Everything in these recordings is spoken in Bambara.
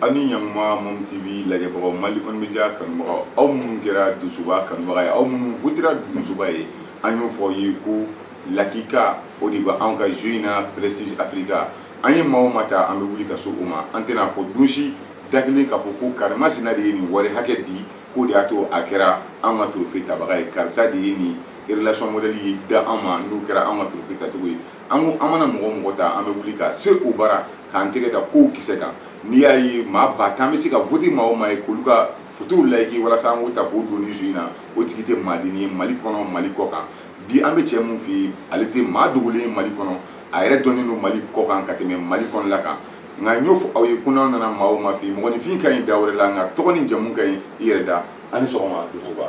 ani ɲanguma mom tv lajɛbagaw mali kɔni media kanubagaw aw minnu kɛra dusuba kanubaga ye aw minnu votera dusuba ye an y'o fɔ ye ko lakika o de bɛ anw ka jeu in na prestige africa an ye maa o maa ta an bɛ wuli ka se o ma an tɛna a fɔ don si da kelen k'a fɔ ko karimasina de ye nin wari hakɛ di k'o de y'a to a kɛra an ka trophée tabaga ye karisa de ye nin relation modèle ye da an ma n'o kɛra an ka trophée tacogo ye an ko an mana mɔgɔ o mɔgɔ ta an bɛ wuli ka se o bara k'an tɛgɛ da kow kisɛ kan n'i y'a ye maa ba tan bɛ se ka vote maa o maa ye k'olu ka fotow layiki walasa an k'o ta k'o don ni jeu in na o tigi tɛ maa dennin ye mali kɔnɔ mali kɔ kan bi an bɛ cɛ min fɛ yen ale tɛ maa dogolen ye mali kɔnɔ a yɛrɛ dɔnnen don mali kɔ kan ka tɛmɛ mali kɔnɔla kan nka n y'o fɔ aw ye ko n'an nana maa o maa fɛ yen mɔgɔninfin ka ɲi da wɛrɛ la nka tɔgɔ ni jamu ka ɲi i yɛrɛ da a ni sɔgɔma dusuba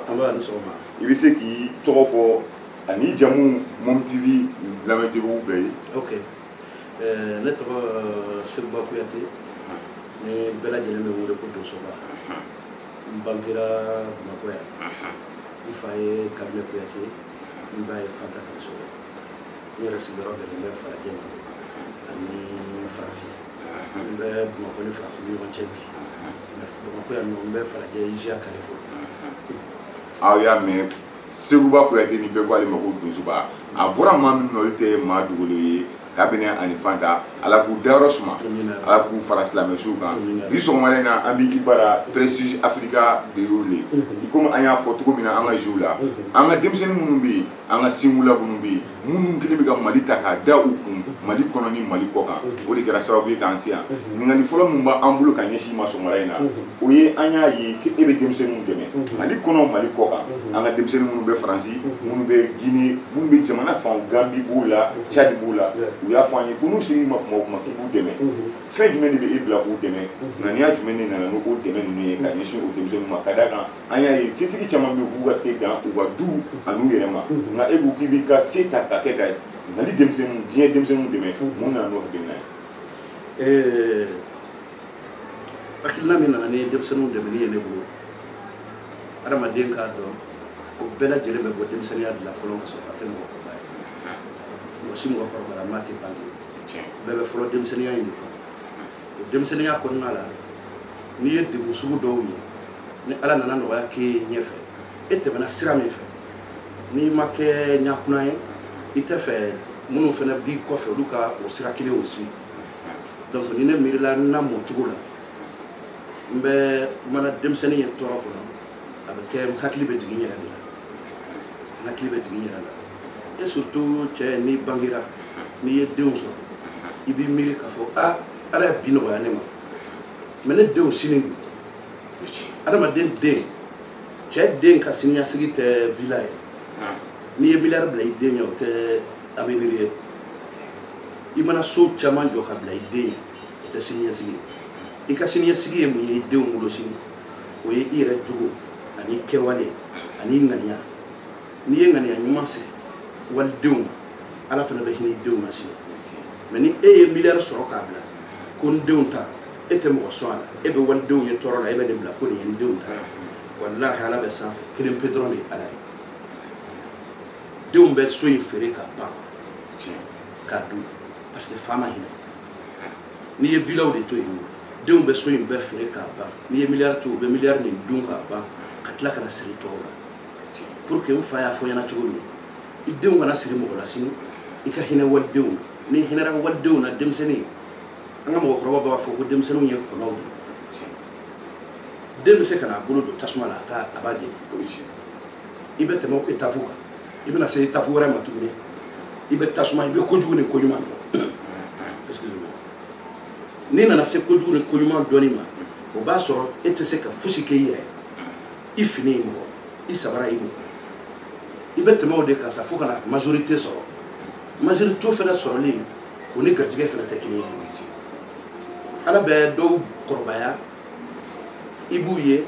i bɛ se k'i tɔgɔ fɔ an'i jamu mom tv lamɛnbagaw bɛɛ ye ok eh, ne tɔgɔ eh, seguba kuyate ni bɛɛ lajɛlen bɛ n wele ko dusuba n bangera bamakɔ yan n fa ye kabinɛ kuyate n ba ye fanta kaso n yɛrɛ sigiyɔrɔ bɛnnen bɛ falajɛ ma ani faransi n bɛ bamakɔ ni faransi ni ɲɔgɔn cɛ bi bamakɔ yan nɔ n bɛ falajɛ iziya kɛrɛfɛ aw y'a mɛn seguba kuyate ni bɛɛ ko ale ma ko dusuba a bɔra maa min na olu tɛ maa dogolen ye kabinɛ ani fanta ala k'u dayɔrɔ suma ala k'u fara silamɛ suw kan bi sɔgɔmada in na an b'i bara prestige africa de y'o le i komi an y'a fɔ cogo min na an ka jeu la an ka denmisɛnnin minnu bɛ yen an ka singula minnu bɛ yen minnu kɛlen bɛ ka mali ta k'a da u kun mali kɔnɔ ni mali kɔ kan o de kɛra sababu ye k'an se yan ɲininkali fɔlɔ min b'an bolo ka ɲɛsin i ma sɔgɔmada in na o ye an y'a ye e bɛ denmisɛnninw dɛmɛ mali kɔnɔ mali kɔ kan an ka denmisɛnnin minnu bɛ faransi minnu bɛ gine minnu bɛ jamana fan gambi b'u la cadi b'u la u y'a fɔ an ye ko n'u ser'i ma kuma o kuma k'i b'u dɛmɛ fɛn jumɛn de bɛ e bila k'u dɛmɛ ŋaniya jumɛn de nana n'o dɛmɛ ninnu ye ka ɲɛsin o denmisɛnninw ma ka d'a kan an y'a ye setigi caman bɛ k'u ka se dan u ka du an'u yɛrɛ ma nka e ko k'i b'i ka se ta ka kɛ ka mali denmisɛnninw diɲɛ denmisɛnninw dɛmɛ mun nana n'o hakilina ye hakilina min nana ni denmisɛnninw dɛmɛni ye ne bolo adamaden k'a dɔn o bɛɛ lajɛlen bɛ bɔ denmisɛnninya de la fɔlɔ ka sɔrɔ ka kɛ mɔgɔkɔrɔba ye mɔgɔ si mɔgɔkɔrɔbayama tɛ bange bɛɛ bɛ fɔlɔ denmisɛnninya in de kɔnɔ o denmisɛnninya kɔnɔna la n'i ye degun sugu dɔw ye ni ala nana nɔgɔya k'e ye ɲɛfɛ e tɛmɛna sira min fɛ n'i ma kɛ ɲakuna ye i tɛ fɛ minnu fana b'i kɔfɛ olu ka o sira kelen o si donc ni ne miirila n namɔ cogo la n bɛ mana denmisɛnnin ye tɔɔrɔ kɔnɔ a bɛ kɛ n hakili bɛ jigin n yɛrɛ de la n hakili bɛ jigin n yɛrɛ la et surtout cɛ n'i bangera n'i ye denw sɔrɔ i b'i miiri k'a fɔ a ala ye bi nɔgɔya ne ma mais ne denw sini adamaden den cɛ den ka siniɲasigi tɛ vila ye n'i ye miliyari bila i den ye o tɛ avenir ye i mana so caman jɔ ka bila i den ye o tɛ siniɲɛsigi ye i ka siniɲɛsigi ye mun ye i denw bolo sini o ye i yɛrɛ jogo ani kɛwale ani ŋaniya n'i ye ŋaniya ɲuman se walidenw ma ala fana bɛ hinɛ i denw na sini mais ni e ye miliyari sɔrɔ k'a bila ko n denw ta e tɛ mɔgɔ sɔn a la e bɛ walidenw ye tɔɔrɔ la e bɛ nin bila ko nin ye n denw ta walahi ala bɛ sanfɛ kelen pe dɔrɔn de ye ala ye denw bɛ so in feere k'a ban k'a dun parce que fa ma hinɛ n'i ye vilaw de to yen denw bɛ so in bɛɛ feere k'a ban n'i ye miliyari to u bɛ miliyari nin dun k'a ban ka tila ka na siri tɔw la pour que n fa y'a fɔ n ɲɛna cogo min i denw kana siri mɔgɔ la sini i ka hinɛ walidenw n'i hinɛra walidenw na denmisɛnnin an ka mɔgɔkɔrɔbaw b'a fɔ ko denmisɛnninw ye kɔnɔw de den bɛ se ka n'a bolo don tasuma la a t'a a b'a jeni i bɛ tɛmɛ etapu kan i bɛna se etapu wɛrɛ ma tuguni i bɛ tasuma i bɛ kojugu ni koɲuman dɔn excusez-moi n'i nana se kojugu ni koɲuman dɔnni ma o b'a sɔrɔ e tɛ se ka fosi kɛ i yɛrɛ i fini ye mɔgɔ i sabara ye mɔgɔ i bɛ tɛmɛ o de kan sa fo ka na majorité sɔrɔ majorité fana sɔrɔli o ni garijɛgɛ fana tɛ kelen ye ala bɛ dɔw kɔrɔbaya i b'u ye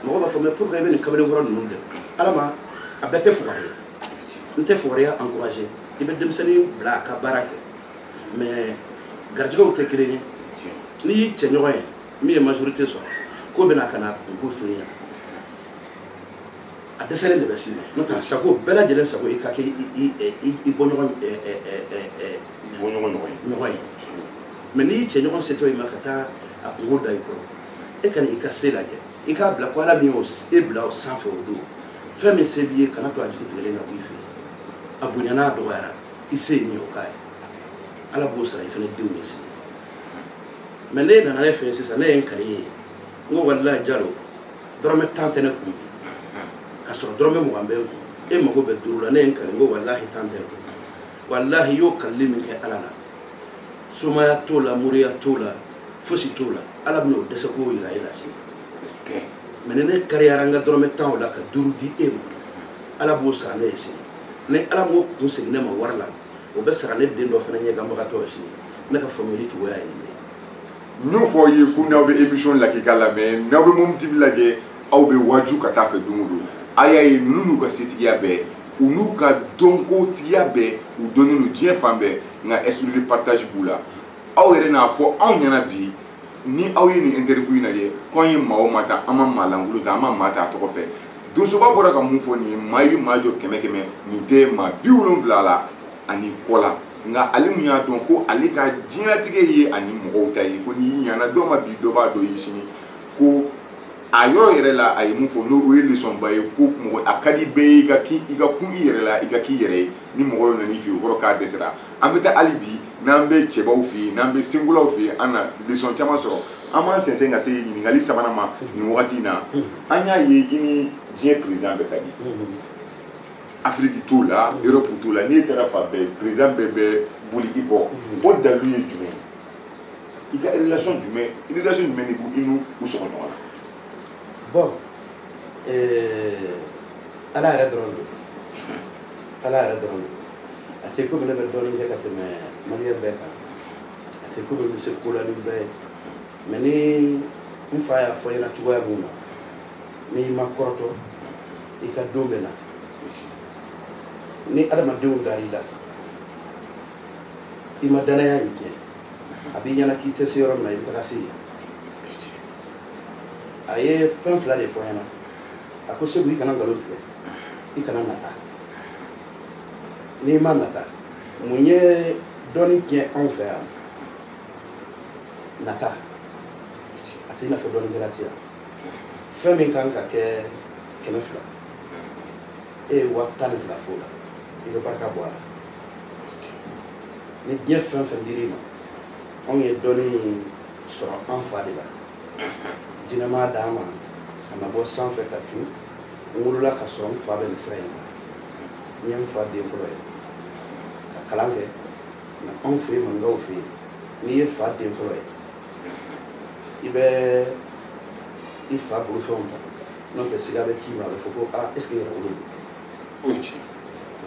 mɔgɔ b'a fɔ mais pourquoi i bɛ nin kamalen kɔrɔ ninnu kɛ ala ma a bɛɛ tɛ fugari ye n tɛ fugariya encourager i bɛ denmisɛnnin bila a ka baara kɛ mais garijɛgɛw tɛ kelen ye n'i y'i cɛɲɔgɔn ye min ye majorité sɔrɔ k'o bɛ na ka n'a kunko f'i ɲɛna a dɛsɛlen de bɛ s'i ma n'o tɛ sago bɛɛ lajɛlen sago i ka kɛ i bɔɲɔgɔn bɔɲɔgɔn ɲɔgɔn ye mais n'i cɛɲɔgɔn setɔ i ma ka taa a kunko da i kɔrɔ e ka na i ka se lajɛ i k'a bila ko ala min y'o e bila o sanfɛ o don fɛn min se b'i ye kan'a to a jigi tigɛlen ka bɔ i fɛ a bonyana a dɔgɔyara i se ye min ye o k'a ye ala b'o sara i fana denw ye sini mais n'e nana ne fɛ sisan ne ye n kali ye n ko walilayi jalo dɔrɔmɛ tan tɛ ne kun ka sɔrɔ dɔrɔmɛ mugan bɛ n kun e mago bɛ duuru la ne ye n kali n ko walahi tan tɛ n kun walahi y'o kalili min kɛ ala la somaya t'o la moriya t'o la fosi t'o la ala bɛna o dɛsɛ k'o yira e la sini mɛ ni ne kariyara n ka dɔrɔmɛ tan o la ka duuru di e ma ala b'o sara ne ye sini ni ala m'o kun segin ne ma wari la o bɛ sara ne den dɔ fana ɲɛ ka magatɔ ye sini ne ka faamuyali cogoya ye nin ye n y'o fɔ aw ye ko n'aw bɛ émission lakika lamɛn n'aw bɛ momo tv lajɛ aw bɛ waaju ka taa fɛ don o don a y'a ye ninnu n'u ka setigiya bɛɛ u n'u ka dɔnkotigiya bɛɛ u dɔnnen don diɲɛ fan bɛɛ nka esprit de partage b'u la aw yɛrɛ n'a fɔ anw ɲɛna bi ni aw ye nin interview in lajɛ ko an ye maa o maa ta an ma maa lankolon ta an ma maa ta a tɔgɔ fɛ donsoba bɔra ka mun fɔ nin ye maa i bɛ maa jɔ kɛmɛ kɛmɛ nin tɛ maa bi wolonwula la ani kɔ la nka ale min y'a dɔn ko ale ka diɲɛlatigɛ ye ani mɔgɔw ta ye ko n'i ɲana dɔ ma bi dɔ b'a dɔ ye sini ko a yɔrɔ yɛrɛ la a ye mun fɔ n'o ye lesɔnba ye ko mɔgɔ a ka di bɛɛ ye i ka k'i i ka kun i yɛrɛ la i ka k'i yɛrɛ ye ni mɔgɔ dɔ nan'i fɛ yen o kɔrɔ k'a dɛsɛra an bɛ taa hali bi n'an bɛ cɛbaw fɛ yen n'an bɛ senkolaw fɛ yen an na lesɔn caman sɔrɔ an b'an sɛnsɛn ka se ɲininkali sabanan ma nin wagati in na an y'a ye i ni diɲɛ président bɛɛ ka di afiriki t'o la europe t'o la n'i taara fan bɛɛ président bɛɛ bɛ boli i kɔ o dalilu ye jumɛn ye i ka relation jumɛn relation jumɛn de b'u i n'u u sɔgɔ ɲɔgɔn na bon ala yɛrɛ dɔrɔn don ala yɛrɛ dɔrɔn don a tɛ komi ne bɛ dɔnni kɛ ka tɛmɛ maliyɛn bɛɛ kan a tɛ komi n bɛ se ko la ni bɛɛ ye mɛ ni n fa y'a fɔ n ɲɛna cogoya min na n'i ma kɔrɔtɔ i ka don bɛ na ni adamadenw dar'i la i ma dannaya in tiɲɛ a b'i ɲɛna k'i tɛ se yɔrɔ min na i bɛ taga se yen a ye fɛn fila de fɔ n ɲɛna a ko seku i kana nkalon tigɛ i kana nata n'i ma nata mun ye dɔnni tiɲɛ anw fɛ yan nata a tɛ i n'a fɔ dɔnnikɛla tɛ yan fɛn min kan ka kɛ kɛmɛ fila e ye waa tan ni fila f'o la i bɛ barika bɔ a la ni diɲɛ fɛn fɛn dir'i ma anw ye dɔnni sɔrɔ an fa de la jinɛ m'a d'an ma ka na bɔ sanfɛ ka tun n wolola ka sɔrɔ n fa bɛ nin sira in na n ye n fa den fɔlɔ ye ka kalan kɛ nka anw fɛ yen maninkaw fɛ yen n'i ye fa den fɔlɔ ye i bɛ i fa bolofɛnw ta n'o tɛ siga bɛ k'i ma a bɛ fɔ ko aa est ce que yɛrɛwolo o ye tiɲɛ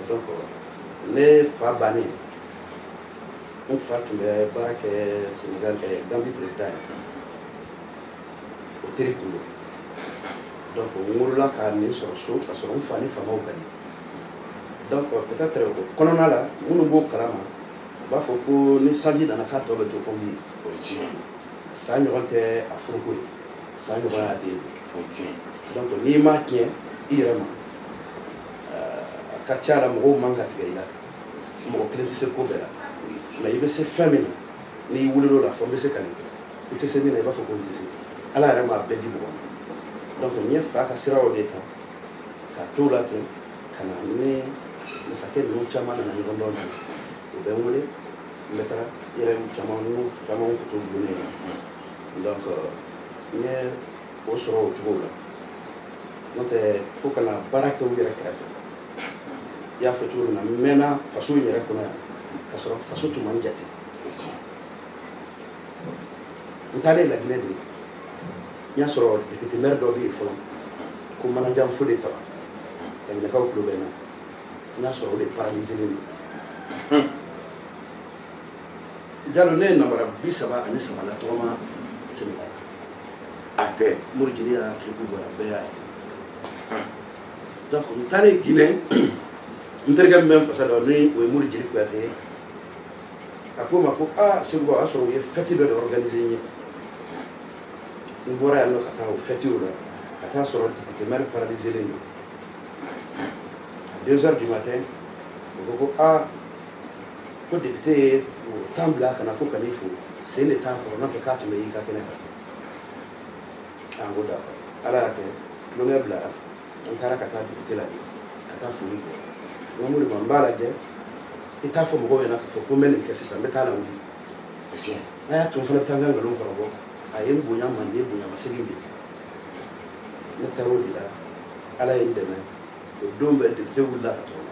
donc ne fa bannen n fa tun bɛ baara kɛ senegal ɛ gambi président ye o teri tun don donc n wolola ka nin sɔrɔ so ka sɔrɔ n fa ni faamaw bɛnna donc peut être o kɔnɔna la minnu b'o kalama u b'a fɔ ko ni sanji nana k'a tɔ bɛ to nkɔmi ye o ye tiɲɛ ye sa ɲɔgɔn tɛ a foroko ye sa ɲɔgɔn y'a den o ye tiɲɛ ye donc n'i m'a tiɲɛ i yɛrɛ ma a ka ca la mɔgɔw man ka tigɛ i la mɔgɔ kelen tɛ se ko bɛɛ la mais i bɛ se fɛn min na n'i wulil'o la fɔ n bɛ se ka nin kɛ i tɛ se min na i b'a fɔ ko n tɛ se ala yɛrɛ m'a bɛɛ di mɔgɔ ma donc n ye n fa ka sira de ta ka t'o la ten ka na ni masakɛ ninnu caman nana ɲɔgɔn dɔn kan u bɛ n wele n bɛ taa yɛrɛ caman n'u caman tun t'u dogo ne la donc n ye o sɔrɔ o cogo la n'o tɛ fo ka na baara kɛ u yɛrɛ kɛrɛfɛ i y'a fɔ cogo min na n mɛnna faso in yɛrɛ kɔnɔ yan ka sɔrɔ faso tun man jate n taalen laginɛ de n y'a sɔrɔ député maire dɔ bɛ yen a bɛ fɔ a ma ko manajan fode taba laginɛkaw tulo bɛ n na n y'a sɔrɔ o de paralyselen don jalo ne ye nabara bi saba ani saba latɔgɔma senegal a tɛ mori jeli y'a clip bɔra bɛɛ y'a ye donc n taalen guinɛ n terikɛ min bɛ n fasa da nin o ye mori jeli kuyate ye a ko n ma ko aa sinbo o y'a sɔrɔ u ye fɛti dɔ de organise n ye n bɔra yan nɔ ka taa o fɛti la ka taa sɔrɔ député maire paralyselen don deux heures du matin u ko ko aa ko député y'a den bila ka na ko ka n'i fo sen de t'a kɔrɔ n'o tɛ k'a tun bɛ y'i ka kɛnɛ kan an ko d'accord ala y'a kɛ tulonkɛ bilara an taara ka taa député la de ka taa foli kɛ n k'o de ma n b'a lajɛ i t'a fɔ mɔgɔw ɲɛna k'a fɔ ko n bɛ nin kɛ sisan n bɛ taa a lawuli a y'a to n fana bɛ taa n ka nkalon kɔrɔbɔ a ye n bonya manden bonya masegin di ne taara o de la ala ye n dɛmɛ o don bɛɛ député wulila ka tɔgɔma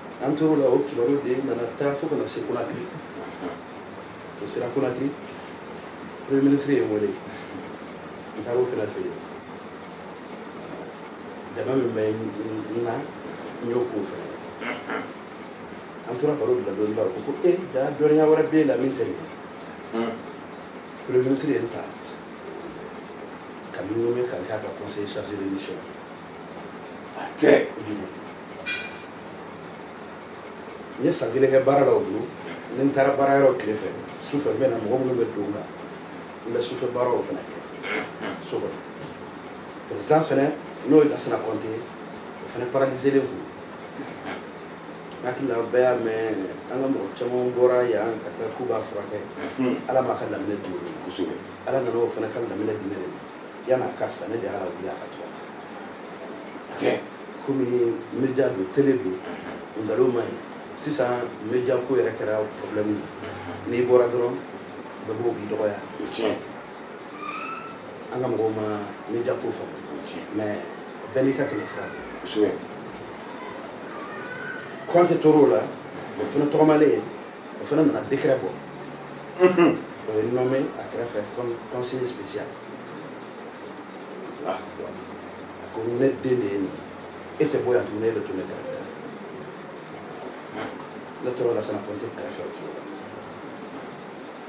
an tor'o la o kibaru de nana taa fo ka na se konakiri o sera konakiri premier ministre ye n wele n taar'o fana fɛ yen jama min bɛ n na n y'o k'o fɛ an tora baro de la dɔɔni o ko e jaa dɔnniya wɛrɛ b'e la min tɛ nin ye premier ministre ye n ta ka n nommer ka n k'a ka conseiller chargé de mission tɛ n ye san kelen kɛ baara la o bolo ni n taara baara yɔrɔ tile fɛ su fɛ n bɛ na mɔgɔ minnu bɛ du la n bɛ sufɛ baaraw fana kɛ so kɔnɔ perezidan fana n'o ye lasana kɔnte ye o fana paralizelen kun n hakili la bɛɛ y'a mɛn an ka mɔgɔ caman bɔra yan ka taa k'u b'a furakɛ ala m'a ka lamine di kosɛbɛ ala nana o fana ka lamine di ne de ma yan'a ka sa ne de y'a wuli a ka tɔgɔ kɛ komi media don tele don o nkalon ma ɲi sisan media ko yɛrɛ kɛra problème ye mhm. n'i bɔra dɔrɔn bɛɛ b'o k'i dɔgɔya an ka mɔgɔw ma media ko faamu bɛɛ n'i ka tɛmɛ sira don kɔnte tor'o la o fana tɔgɔmalen ye o fana nana décret bɔ o ye n nommé a kɛrɛfɛ comme conseiller spécial ah, a ko ne den de ye nin e tɛ bɔ yan tuguni e bɛ to ne kɛrɛfɛ ne tora lasana kɔnte kɛrɛfɛ o cogo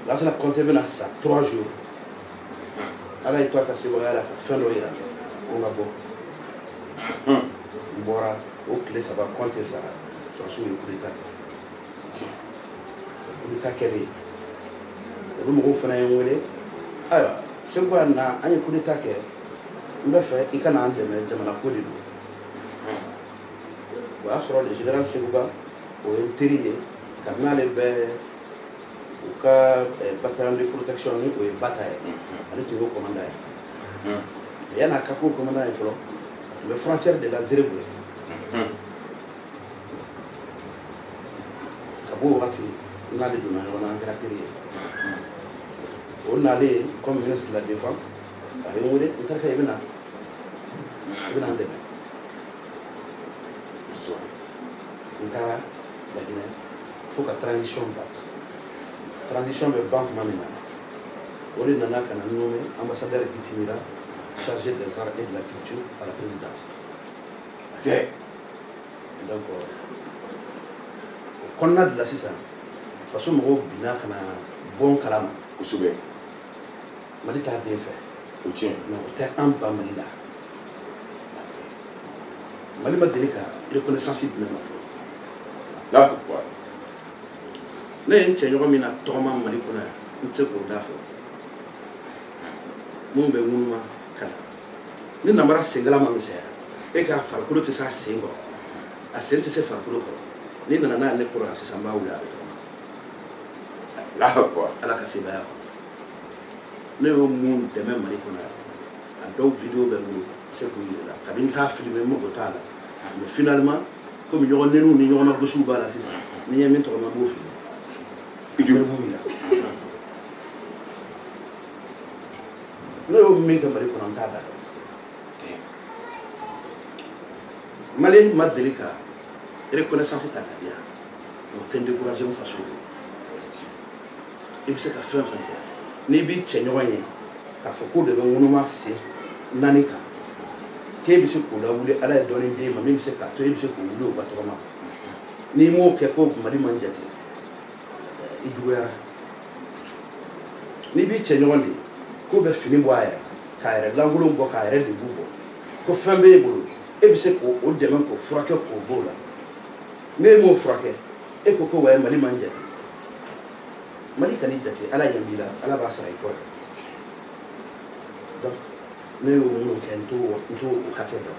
la lasana kɔnte bɛna sa trois jours ala y'i to a ka sebagaya la ka fɛn dɔ yira ko n ka bɔ n bɔra o tile saba kɔnte sara sɔrɔdasiw ye coup d'état kɛ kudeta kɛlen olu mɔgɔw fana ye n wele ayiwa seguba na an ye kudeta kɛ n bɛ fɛ i ka na an dɛmɛ jamana ko de don o y'a sɔrɔ le général seguba o ye n teri ye kabini ale bɛ u ka bataillon de protection ni o ye bata ye ale tun y'o commandant ye yan'a ka k'o commandant ye fɔlɔ tun bɛ frontière de la zerebu ye ka b'o wagati n n'ale donna ɲɔgɔn na an kɛra teri ye o nalen comme ministre de la défense a ye n wele n terikɛ i bɛ na i bɛ na n dɛmɛ n taara laginɛ fo ka transition ban transition bɛ ban tuma min na o de nana ka na n nommé ambassadeur itinérant chargé des arts et de la culture à la présidence tɛ donc o kɔnɔna de la sisan faso mɔgɔw binna ka na bɔ n kalama kosɛbɛ mali t'a den fɛ o tiɲɛ mɛ o tɛ an ba mali la mali ma deli ka reconnaissance di ne ma fɔlɔ ne ye n cɛ ɲɔgɔn min natɔgɔma mali kɔnɔ yan n tɛ se k'o da fɔ minnu bɛ ŋunuma ka na ni nabara senkala ma misɛya e k'a farikolo tɛ se a sen kɔrɔ a sen tɛ se farikolo kɔrɔ n'i nana n'a ye ne kɔrɔ la sisan n b'a wuli a bɛ tɔgɔma ala ka sebaaya kɔnɔ ne y'o min dɛmɛ mali kɔnɔ yan a dɔw video bɛ n bolo se k'u yira i la kabini n t'a filime n mago t'a la mais finalement komi ɲɔgɔn neniw ni ɲɔgɔn na gosiw b'a la sisan ni n ye min tɔgɔma n b'o filime i joli b'u yira ne y'o min kɛ mali kɔnɔ n t'a da mali ma deli ka reconnaissance ta ka di yan o tɛ n découragé n faso ye i bɛ se ka fɛn fɛn kɛ n'i b'i cɛɲɔgɔn ye k'a fɔ k'o de bɛ ŋunuma sen naani kan k'e bɛ se k'o lawuli ala ye dɔnni d'e ma min bɛ se k'a to e bɛ se k'o wuli o ka tɔgɔma n'i m'o kɛ ko mali ma n jate i juguyara n'i b'i cɛɲɔgɔn de k'o bɛ fini bɔ a yɛrɛ k'a yɛrɛ lankolon bɔ k'a yɛrɛ de bugɔ ko fɛn b'e bolo e bɛ se k'o dɛmɛ k'o furakɛ k'o b'o la n'e m'o furakɛ e ko ko wayi mali ma n jate mali kan'i jate ala ɲɛ b'i la ala b'a sara i kɔ dɛ donc ne y'o minnu kɛ n t'o n t'o o hakɛ dɔn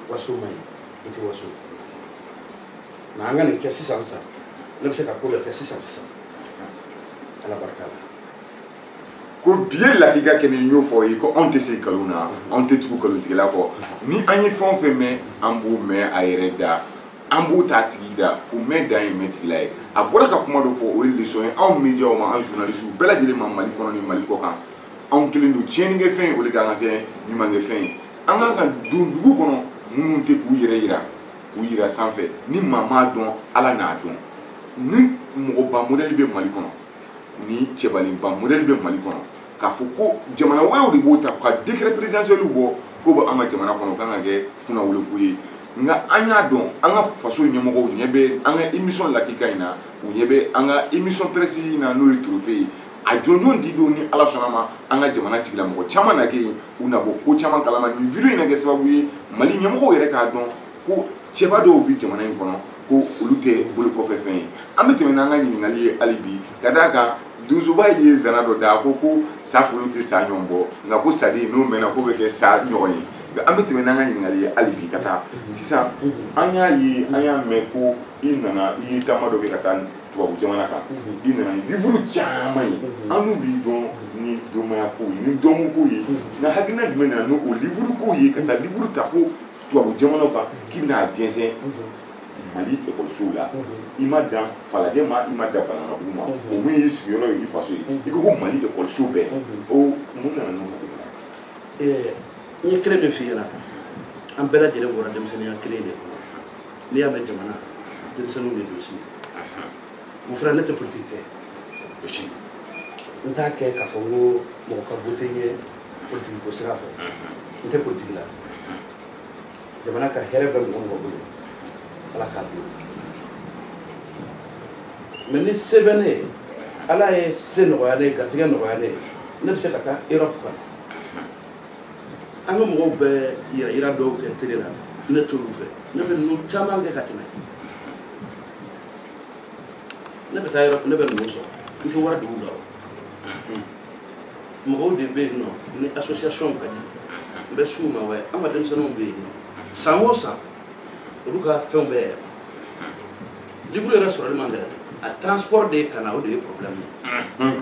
waso man ɲi i tɛ waso mais an ka nin kɛ sisan sisan ne bɛ se ka ko dɔ kɛ sisan sisan ala barika la ko bi ye lakika kɛ ni y'o fɔ ye ko anw tɛ se nkalon na anw tɛ tugu nkalontigɛla kɔ ni an ye fɛn o fɛn mɛn an b'o mɛn a yɛrɛ da an b'o t'a tigi da ko mɛn dan ye mɛn tigi la ye a bɔra ka kuma dɔ fɔ o ye leçon ye anw médiaw ma anw journalistes bɛɛ lajɛlen ma mali kɔnɔ ni mali kɔkan anw kɛlen don tiɲɛnikɛfɛn ye o de kan ka kɛ ɲumankɛfɛn ye an kan ka don dugu kɔnɔ minnu tɛ k'u yɛrɛ yira k'u yira sanfɛ ni maa m'a dɔn ala n'a dɔn ni mɔgɔba modɛli bɛ mali kɔnɔ ni cɛbalenba modɛli bɛ mali kɔnɔ k'a fɔ ko jamana wɛrɛw de b'o ta ka décret présidentiel bɔ k'o bɛ an ka jamana kɔnɔ o kan ka kɛ kunnawoloko ye nka an y'a dɔn an ka faso ɲɛmɔgɔw ɲɛ bɛ an ka émission lakika in na u ɲɛ bɛ an ka émission presse in na n'o ye trophée ye a jɔnjɔn di don ni ala sɔnn'a ma an ka jamana tigilamɔgɔ caman na kɛ yen u na bɔ ko caman kalama nin video in na kɛ sababu ye mali ɲɛmɔgɔw yɛrɛ k'a dɔn ko cɛba dɔw bɛ jamana in kɔnɔ ko olu tɛ bolokɔfɛfɛn ye an bɛ tɛmɛ n'an ka ɲininkali ye hali bi ka d'a kan donsoba ye zana dɔ da ko ko sa folo tɛ sa ɲɔgɔn bɔ nka ko saden n'o mɛnna k'o bɛ kɛ sa ɲɔgɔn ye nka an bɛ tɛmɛ n'an ka ɲininkali ye hali bi ka taa sisan an y'a ye an y'a mɛn ko i nana i ye taama dɔ kɛ ka taa tubabu jamana kan i nana ni livuru caman ye annu b'i dɔn ni domaya kow ye ni dɔnko kow ye nka hakilina jumɛn nana n'o livuru kow ye ka taa livuru ta fo tubabu jamanaw kan k'i bɛna a jɛnsɛn mali ekɔlisow la i ma dan falajɛ ma i ma dan bananabugu ma o min y'i sigiyɔrɔ ye i faso ye i ko ko mali ekɔliso bɛɛ o mun nana n'o hakilina n ye kelen min f'i ɲɛna an bɛɛ lajɛlen bɔra denmisɛnninya kelen de kɔnɔ n'i y'a mɛn jamana denmisɛnninw de don sini o fana ne tɛ politiki kɛ o si n t'a kɛ k'a fɔ n ko mɔgɔ ka wote n ye politiki ko sira fɛ n tɛ politiki la jamana ka hɛrɛ bɛ mɔgɔ mɔgɔ bolo ala k'a d'o ma ni se bɛ ne ye ala ye se nɔgɔya ne ye garijɛgɛ nɔgɔya ne ye ne bɛ se ka taa erɔpu kan an ka mɔgɔw bɛ yɛrɛ yira dɔw kɛ tele la ne t'olu fɛ ne bɛ ninnu caman kɛ ka tɛmɛ ne bɛ taa yɔrɔ ne bɛ ninnu sɔrɔ n tɛ wari don u la mɔgɔw de bɛ yen nɔ ni association ka di n bɛ s'u ma wɛ an ka denmisɛnninw bɛ yen nɔ san o san olu ka fɛnw bɛ yɛlɛma livre yɛrɛ sɔrɔli man gɛlɛn a transport de ye ka na o de ye problème ye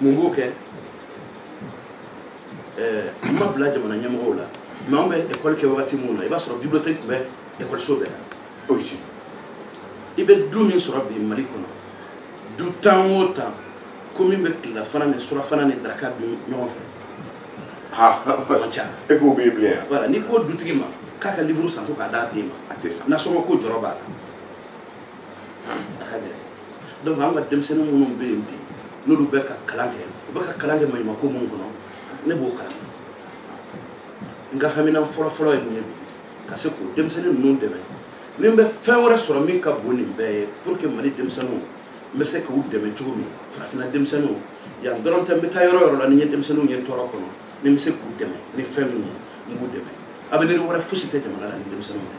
mun b'o kɛ n ma bila jamana ɲɛmɔgɔw la mɛ anw bɛ ekɔli kɛ wagati minnu na i b'a sɔrɔ bibiliyotɛki tun bɛ ekɔliso bɛɛ la i bɛ du min sɔrɔ bi mali kɔnɔ du tan o tan ko min bɛ tilelafana ni surafana ni daraka dun ɲɔgɔn fɛ man ca e k'o bɛ yen bilen yan wala n'i ko dutigi ma k'a ka liburu san ko k'a d'a den ma a tɛ san nasɔngɔ ko jɔrɔ b'a la donc an ka denmisɛnnin minnu bɛ yen bi n'olu bɛ ka kalan kɛ u bɛ ka kalan kɛ maɲumako minnu kɔnɔ ne b'o kalama n ka haminan fɔlɔfɔlɔ ye mun ye bi ka se k'o denmisɛnnin ninnu dɛmɛ ni n bɛ fɛn wɛrɛ sɔrɔ min ka bon nin bɛɛ ye pour que mali denmisɛnninw n bɛ se k'u dɛmɛ cogo min farafinna denmisɛnninw yan dɔrɔn tɛ n bɛ taa yɔrɔ yɔrɔ la ni n ye denmisɛnninw ye tɔɔrɔ kɔnɔ ni n bɛ se k'u dɛmɛ ni fɛn min ye n b'u dɛmɛ avenir wɛrɛ fosi tɛ jamana la ni denmisɛnninw tɛ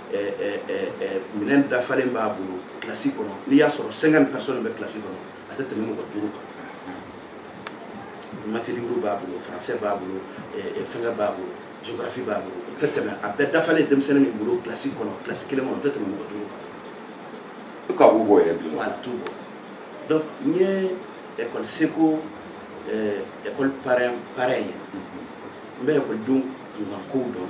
minɛn dafalen b'a bolo kilasi kɔnɔ n'i y'a sɔrɔ cinquante personnes bɛ kilasi kɔnɔ a tɛ tɛmɛ mɔgɔ duuru kan matematiki b'a bolo faransɛ b'a bolo fɛnkɛ b'a bolo géographie b'a bolo o tɛ tɛmɛ a bɛɛ dafalen denmisɛnnin min bolo kilasi kɔnɔ kilasi kelen kɔnɔ o tɛ tɛmɛ mɔgɔ duuru kan i ka b'u bɔ yɛrɛ bi wala t'u bɔ donc n ye école seko école parrain parrain ye n bɛ école denw kunkan kow dɔn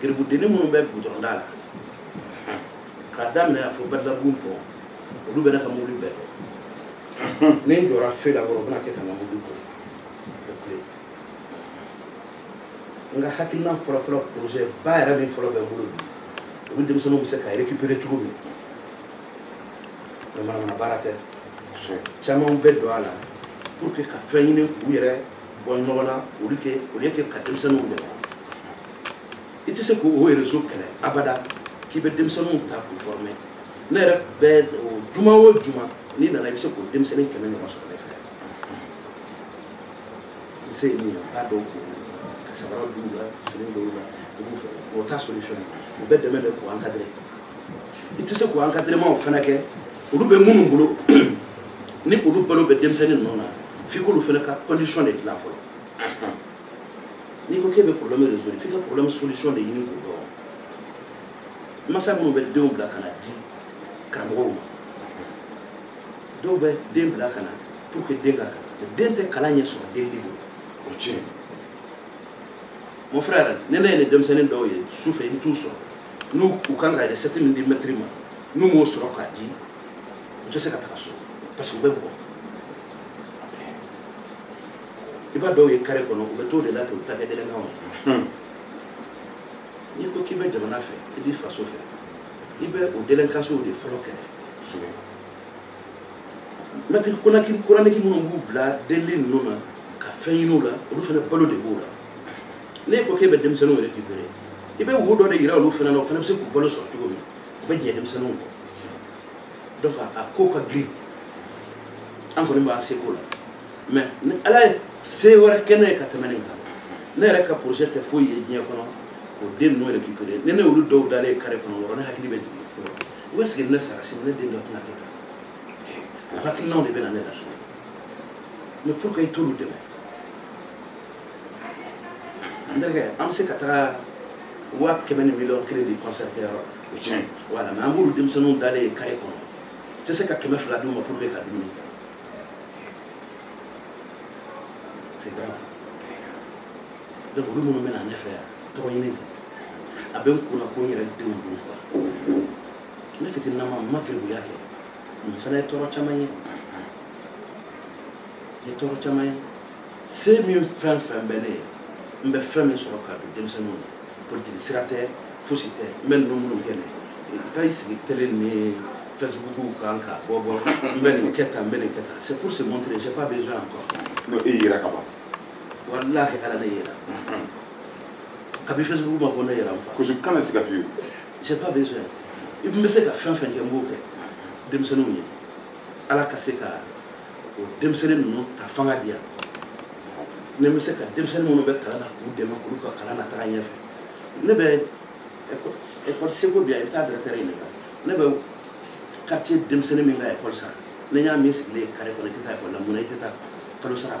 garibudennin minnu bɛ gudɔrɔnda la k'a daminɛ a fo bɛrɛdabugu bɔ olu bɛ ne ka mobili bɛɛ dɔn ni n jɔra feu la dɔrɔn u bɛna kɛ ka n ka mobili bɔ n ka hakilina fɔlɔfɔlɔ projet ba yɛrɛ min fɔlɔ bɛ n bolo bi olu denmisɛnninw bɛ se ka récupérer cogo min mɛ manamana baara tɛ caman bɛ don a la pour que ka fɛn ɲini k'u yɛrɛ bɔ nɔgɔ la olu kɛ olu ye kɛ ka denmisɛnninw dɛmɛ i tɛ se k'o rezo kɛlɛ abada k'i bɛ denmisɛnninw ta k'u fɔrɔmɛ ne yɛrɛ bɛɛ juma o juma n'i nana i bɛ se k'o denmisɛnnin kɛmɛ ɲɔgɔn sɔrɔ ne fɛ n se ye min ye n t'a dɔn k'o ka sabara don u la fini don u la u b'u fɛ o t'a solution ye u bɛ dɛmɛ de k'u encadrer i tɛ se k'u encadrement fana kɛ olu bɛ minnu bolo ni olu balo bɛ denmisɛnnin ninnu na f'i k'olu fana ka condition de dilan fɔlɔ n'i ko k'e bɛ problème résoudre f'i ka problème solution de ɲini k'o dɔn masa minnu bɛ denw bila ka na di karamɔgɔw ma dɔw bɛ den bila ka na pour que den ka kalan den tɛ kalan ɲɛ sɔrɔ delili bolo o tiɲɛ mon frère ne ne ye nin denmisɛnnin dɔw ye su fɛ i bɛ t'u sɔrɔ ni u kan ka recette min di mɛtiri ma n'u m'o sɔrɔ k'a di u tɛ se ka taga so parce que u bɛ bugɔ i b'a dɔw ye kare kɔnɔ u bɛ t'o de la k'u ta kɛ dɛlɛnkanw ye n'i ko k'i bɛ jamana fɛ i b'i faso fɛ i bɛ o dɛlɛnkansow de fɔlɔ kɛlɛ mɛtiri konaki koraniki minnu b'u bila delili ninnu na ka fɛn ɲiniw la olu fana balo de b'o la n'i ko k'e bɛ denmisɛnninw récupérer i bɛ voie dɔ de yira olu fana na o fana bɛ se k'u balo sɔrɔ cogo min u bɛ jɛ denmisɛnninw kɔ donc a ko ka girin an kɔni b'an seko la mɛ ni ala ye se wɛrɛ kɛ ne ye ka tɛmɛ nin kan ne yɛrɛ ka projet tɛ foyi ye diɲɛ kɔnɔ fo den ninnu récupérer ni ne olu dɔw dalen kare kɔnɔ dɔrɔn ne hakili bɛ jigin est-ce que ne sara sini ne den dɔ tɛna kɛ tan o hakilinaw de bɛ na ne la sɔrɔ mɛ pourquoi i t'olu dɛmɛ n terikɛ an bɛ se ka taga waa kɛmɛ ni miliyɔn kelen di kɔnsɛri kɛ yɔrɔ o tiɲɛ wala mɛ an b'olu denmisɛnninw dalen ye kare kɔnɔ tɛ se ka kɛmɛ fila d'u ma pour que ka dumuni kɛ c'est grave donc olu minnu bɛna ɲɛfɛ yan tɔgɔ ɲini tɛ a bɛ n kun na ko n yɛrɛ denw don quoi ne fitininama n ma garibuya kɛ ne fana ye tɔɔrɔ caman ye ye tɔɔrɔ caman ye se min fɛn fɛn bɛ ne ye n bɛ fɛn min sɔrɔ ka don denmisɛnninw na politiki sira tɛ fosi tɛ n bɛ ninnu minnu kɛ ne tɛ taa i sigi tele ni fɛsibukuw kan ka bɔ bɔ n bɛ nin kɛ tan n bɛ nin kɛ tan c'est pour se montrer j'ai pas besoin encore n'o e yira ka ban walahi ala ne yira kabi facebook ma ko ne yira fa kosɛbɛ kana siga fiyewu j'ai pas besoin n bɛ se ka fɛn fɛn kɛ n b'o kɛ denmisɛnninw ye ala ka se ka o denmisɛnnin ninnu ta fanga di yan ne bɛ se ka denmisɛnnin minnu bɛ kalan na k'u dɛmɛ k'olu ka kalan na taga ɲɛfɛ ne bɛ ekɔli seko bi yan i bɛ taa directeur ɲininka ne bɛ quartier denmisɛnnin min ka ekɔli sara ne y'a min sigilen kare kɔnɔ i tɛ taa ekɔli la mun na i tɛ taa kalo sara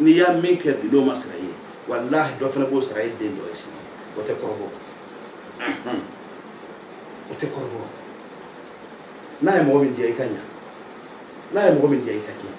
n'i ye min kɛ bi n'o ma sara i ye walahi dɔ fana b'o sara i den dɔ ye sini o tɛ kɔrɔbɔ o tɛ kɔrɔbɔ n'a ye mɔgɔ min diya i ka ɲa n'a ye mɔgɔ min diya i ka tiɲɛ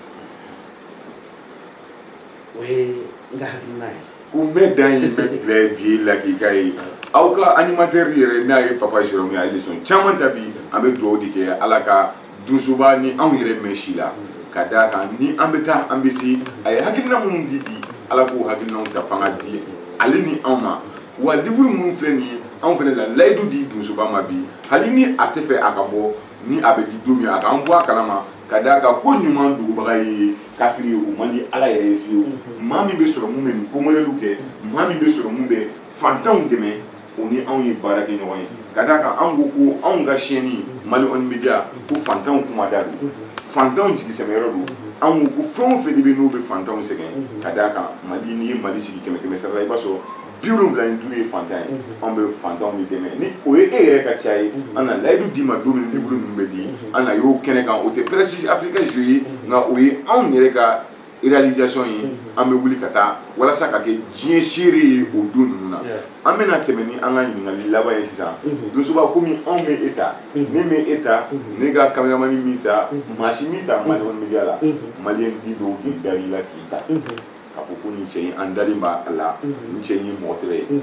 o ye n ka hakilina ye ko mɛ dan ye mɛ tigɛ ye bi lakika ye aw ka animatɛri yɛrɛ n'a ye papa sɔrɔ min ye leçon caman ta bi an bɛ dugawu de kɛ ala ka donsoba ni anw yɛrɛ mɛn si la ka d'a kan ni an bɛ taa an bɛ se a ye hakilina minnu di di ala k'u hakilinaw ta fanga di ale ni anw ma wa liburu minnu filɛ nin ye anw fana la layidu di donsoba ma bi hali ni a tɛ fɛ a ka bɔ ni a bɛ di don min a k'an bɔ a kalama ka d'a kan ko ɲuman dogobaga ye kafiri ye o man di ala yɛrɛ ye fiyewu maa min bɛ sɔrɔ min bɛ nin ko modɛliw kɛ maa min bɛ sɔrɔ min bɛ fantanw dɛmɛ o ni anw ye baara kɛ ɲɔgɔn ye ka d'a kan anw ko ko anw ka chaîne mali ɔni media ko fantanw kuma da don fantanw jigisɛmɛyɔrɔ don anw ko fɛn o fɛn de bɛ n'u bɛ fantanw sɛgɛn ka d'a kan mali n'i ye mali sigi kɛmɛ kɛmɛ sara la i b'a sɔrɔ bi wolonwula ni duuru ye fantan ye anw bɛ fantanw de dɛmɛ ni o ye e yɛrɛ ka ca ye an na layidu d'i ma don min liburu ninnu bɛ di an na y'o kɛnɛ kan o tɛ prɛsi afirika jo ye nka o ye anw yɛrɛ ka réalisation ye an bɛ wuli ka taa walasa ka kɛ diɲɛ seere ye o don ninnu na an bɛna tɛmɛ ni an ka ɲininkali laban ye sisan donsoba komi anw ma e ta ne ma e ta ne ka kameramani m'i ta maa si m'i ta mali kɔnɔ media la maliyɛn de dɔw dara i la k'i ta k'a fɔ ko nin cɛ in an dalen b'a la nin cɛ in ye mɔgɔ sɛbɛ ye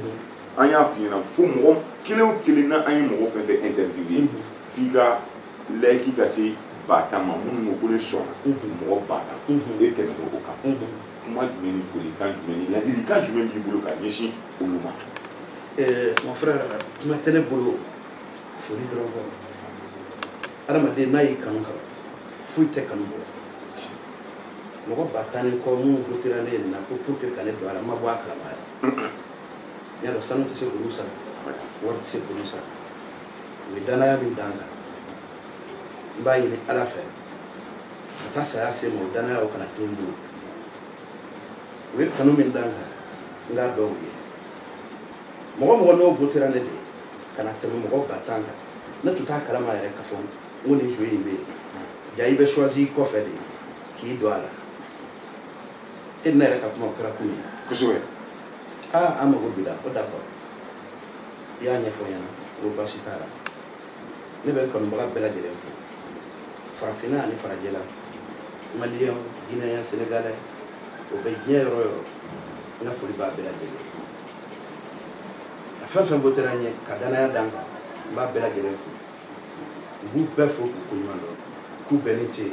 an y'a f'i ɲɛna fo mɔgɔ kelen o kelen na an ye mɔgɔ fɛn fɛn interviewé f'i ka layiki ka se ba tan ma minnu ko ko ne sɔnna mɔgɔ ba tan e tɛmɛna o kan kuma jumɛn ni folikan jumɛn ni ladilikan jumɛn b'i bolo ka ɲɛsin olu ma mon frère kuma tɛ ne bolo foli dɔrɔn kɔ adamaden n'a y'i kanu kaban foyi tɛ kanu bɔ mɔgɔ ba tan ni kɔ minnu wotera ne ye nin na ko pour que ka ne don a la n ma bɔ a kalama yɛrɛ n y'a dɔn sanu tɛ se k'olu sara wari tɛ se k'olu sara u ye danaya min da n kan n b'a ɲini ala fɛ ka taa saya se n ma o danaya o kana to n bolo u ye kanu min da n kan n k'a dɔn u ye mɔgɔ mɔgɔ n'o votera ne de ka na tɛmɛ mɔgɔ ba tan kan ne tun t'a kalama yɛrɛ k'a fɔ n ko nin jeu in bɛ yen ja i bɛ choisi kɔfɛ de k'i don a la e ni ne yɛrɛ ka kuma o kɛra kun ye kosɛbɛ aa an mago b'i la ko d'accord i y'a ɲɛfɔ ɲɛna ko baasi t'a la ne bɛ kanubaga bɛɛ lajɛlen fo farafinna ani farajɛla maliyɛn gineyɛn senegalɛ o bɛ diɲɛ yɔrɔ yɔrɔ n ka foli b'a bɛɛ lajɛlen a fɛn fɛn votera n ye ka danaya da n kan n b'a bɛɛ lajɛlen fo n b'u bɛɛ fo k'u ko ɲuman dɔn k'u bɛɛ ni ce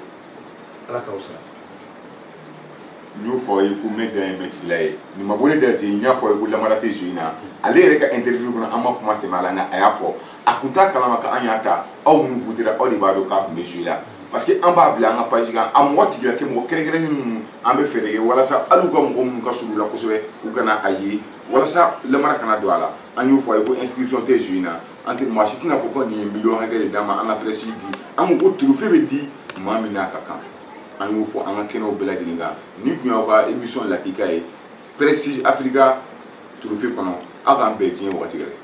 ala k'aw sara n y'o fɔ i ye ko ne dan ye mɛtigila ye nin ma bɔ ne da zen n y'a fɔ ye ko namara tɛ jeu in na ale yɛrɛ ka interview kɔnɔ an ma kuma sɛmɛ a la nka a y'a fɔ a kun t'a kalama ko an y'a ta aw minnu votera aw de b'a dɔn k'a kun bɛ jeu la parce que an b'a bila an ka page kan a mɔgɔ tigila kɛ mɔgɔ kɛrɛnkɛrɛnnen ninnu an bɛ fɛɛrɛ kɛ walasa hali u ka mɔgɔ minnu ka surun la kosɛbɛ u kana a ye walasa namara kana don a la an y'o fɔ a ye ko inscription tɛ jeu in na an tɛ maa si tɛna a fɔ ko nin ye miliyɔn hakɛ de d'an ma an ka prestige di an ko ko trophée bɛ di maa min n'a ka kan an y'o fɔ an ka kɛnɛw bɛɛ lajɛlen kan nin tun y'aw ka emission lakika ye prestige afirika trophée kɔnɔ aw k'an bɛn diɲɛ wagati wɛrɛ